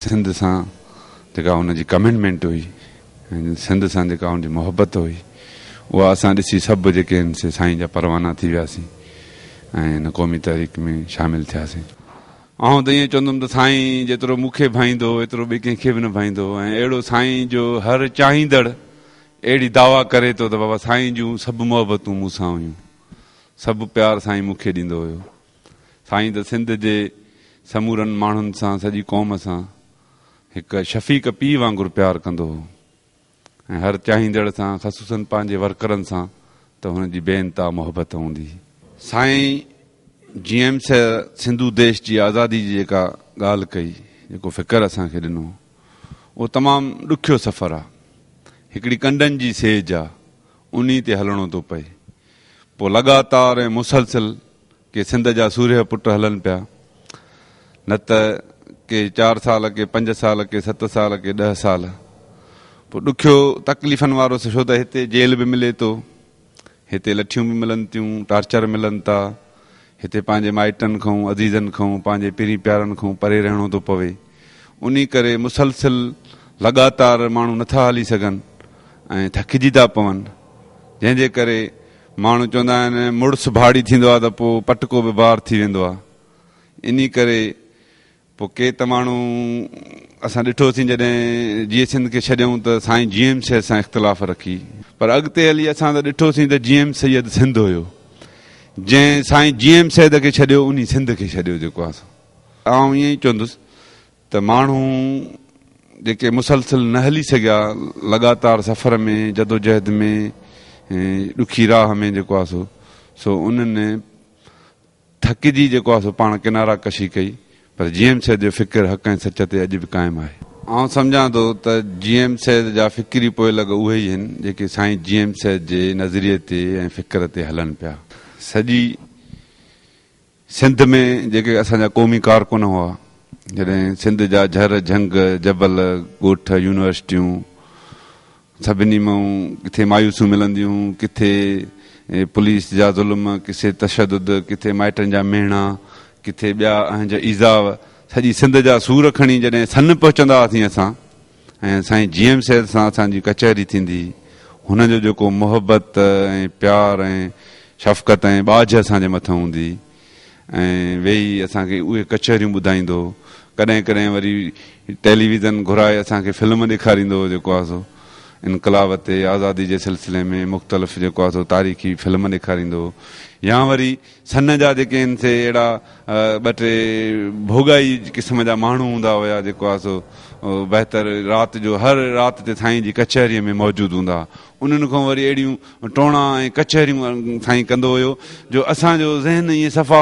سنڌ سان جيڪا هن جي ڪمٽمينٽ هئي ۽ سنڌ سان جيڪا هن جي محبت هئي اها اسان ڏسي سڀ جيڪي آهن سي سائين جا پروانا ٿي وياسين ۽ هن قومي تحريڪ ۾ شامل ٿياسين. آئون ته ائين چوندم ته سائين جيترو مون کي ڀائيندو هو ايترو ٻئي ڪنهن کي به نه ڀائيندو هو ۽ اهڙو سائين جو هر چاهيندڙ اهڙي دعويٰ ڪري ٿو ته بابا سائين جون سڀ محبتون مون سان هيون سڀ پيار سائين مون کي ڏيندو هيو. سائين ته سنڌ جي سمورن ماڻهن سان سڄي قوم سان هڪ شفيق پيء وانگر پيار ڪندو هو ۽ هر چاهيندڙ سان خصوصن پنهنجي ورڪرن سان ته هن جي بي انتها محبت هوندي هئي. سائين جي ايم سي سنڌو ديش جي آزادي جي جيڪا ڳالهه ڪئي جيڪو فڪر اسان کي ڏنو اهو تمام ڏکيو سفر آ هڪڙي ڪنڊن جي سيج آ انهي تي هلڻو ٿو پئي پوء لڳاتار ۽ مسلسل ڪي سنڌ جا سورهيه پٽ هلن پيا، نه ته ڪي چار سال، ڪي پنج سال، ڪي ست سال، ڪي ڏهه سال. پوء ڏکيو تڪليفن وارو ڇو ته هتي جيل به ملي ٿو، هتي لٺيون به ملن ٿيون، ٽارچر ملن ٿا، هتي پنهنجي مائٽن کئون، عزيزن کئون، پنهنجي پرين پيارن کئون پري رهڻو ٿو پوي. انهي ڪري مسلسل لڳاتار ماڻهو نه ٿا هلي سگهن ۽ ٿڪجي ٿا پون، جنهن جي ڪري ماڻهو چوندا آهن مڙس ڀاڙي ٿيندو آهي ته پوء پٽڪو به بار ٿي ويندو آهي انهي ڪري پوء ڪي ته ماڻهو اسان ڏٺو سين جڏهن جيئي سنڌ کي ڇڏيئون ته سائين جي ايم سيد سان اختلاف رکي پر اڳتي هلي اسان ته ڏٺو سين ته جي ايم سيد سنڌ هيو جنهن سائين جي ايم سيد کي ڇڏيو انهي سنڌ کي ڇڏيو جيڪو آهي سو آئون ائين ئي چوندس ته ماڻهو جيڪي مسلسل نه هلي سگهيا لڳاتار سفر ۾ جدوجهد ۾ ڏکي راهه ۾ جيڪو آهي سو سو انهن ٿڪجي جيڪو آهي سو پاڻ ڪنارا ڪشي ڪئي پر جي ايم سيد جو فڪر حق ۽ سچ تي اڄ به قائم آهي. آئون سمجهان ٿو ته جي ايم سيد جا فڪري پوئي لڳ اهي ئي هن جيڪي سائين جي ايم سيد جي نظريي تي ۽ فڪر تي هلن پيا. سڄي سنڌ ۾ جيڪي اسان جا قومي ڪارڪن هئا، جڏهن سنڌ جا جھر، جھنگ، جبل، ڳوٺ، يونيورسٽيون، سڀني مان ڪٿي مايوسيون ملنديون، ڪٿي پوليس جا ظلم، ڪٿي تشدد، ڪٿي مائٽن جا ميڻا، ڪٿي ٻيا اهنج ايذاء، سڄي سنڌ جا سور کڻي جڏهن سن پهچندا هئاسين اسان، ۽ سائين جي ايم سيد سان اسان جي ڪچهري ٿيندي هئي هن جو جيڪو محبت ۽ پيار ۽ شفقت ۽ ٻاجهه اسان جي مٿن هوندي هئي ۽ ويهي اسان کي اهي ڪچهريون ٻڌائيندو هو ڪڏهن ڪڏهن وري ٽيليويزن گهرائي اسان کي فلم ڏيکاريندو هو جيڪو آهي سو انقلاب تي آزادي جي سلسلي ۾ مختلف جيڪو آهي سو تاريخي فلم ڏيکاريندو هو يا وري سن جا جيڪي هن سي اهڙا ٻه ٽي ڀوڳائي قسم جا ماڻهو هوندا هيا جيڪو آ سو بهتر رات جو هر رات تي سائين جي ڪچهري ۾ موجود هوندا ها انهن کان وري اهڙيون ٽوڻا ۽ ڪچهريون سائين ڪندو هيو جو اسان جو ذهن ائين صفا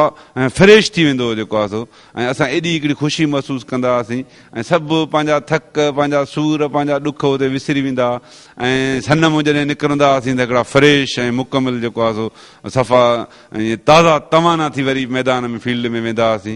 فريش ٿي ويندو هو جيڪو آ سو ۽ اسان ايڏي هڪڙي خوشي محسوس ڪندا هئاسين ۽ سڀ پنهنجا ٿڪ پنهنجا سور پنهنجا ڏک اتي وسري ويندا ها ۽ سن مون جڏهن نڪرندا هئاسين ته هڪڙا فريش ۽ مڪمل جيڪو آ سو صفا ائين تازا توانا ٿي وري ميدان ۾ فيلڊ ۾ ويندا هئاسين.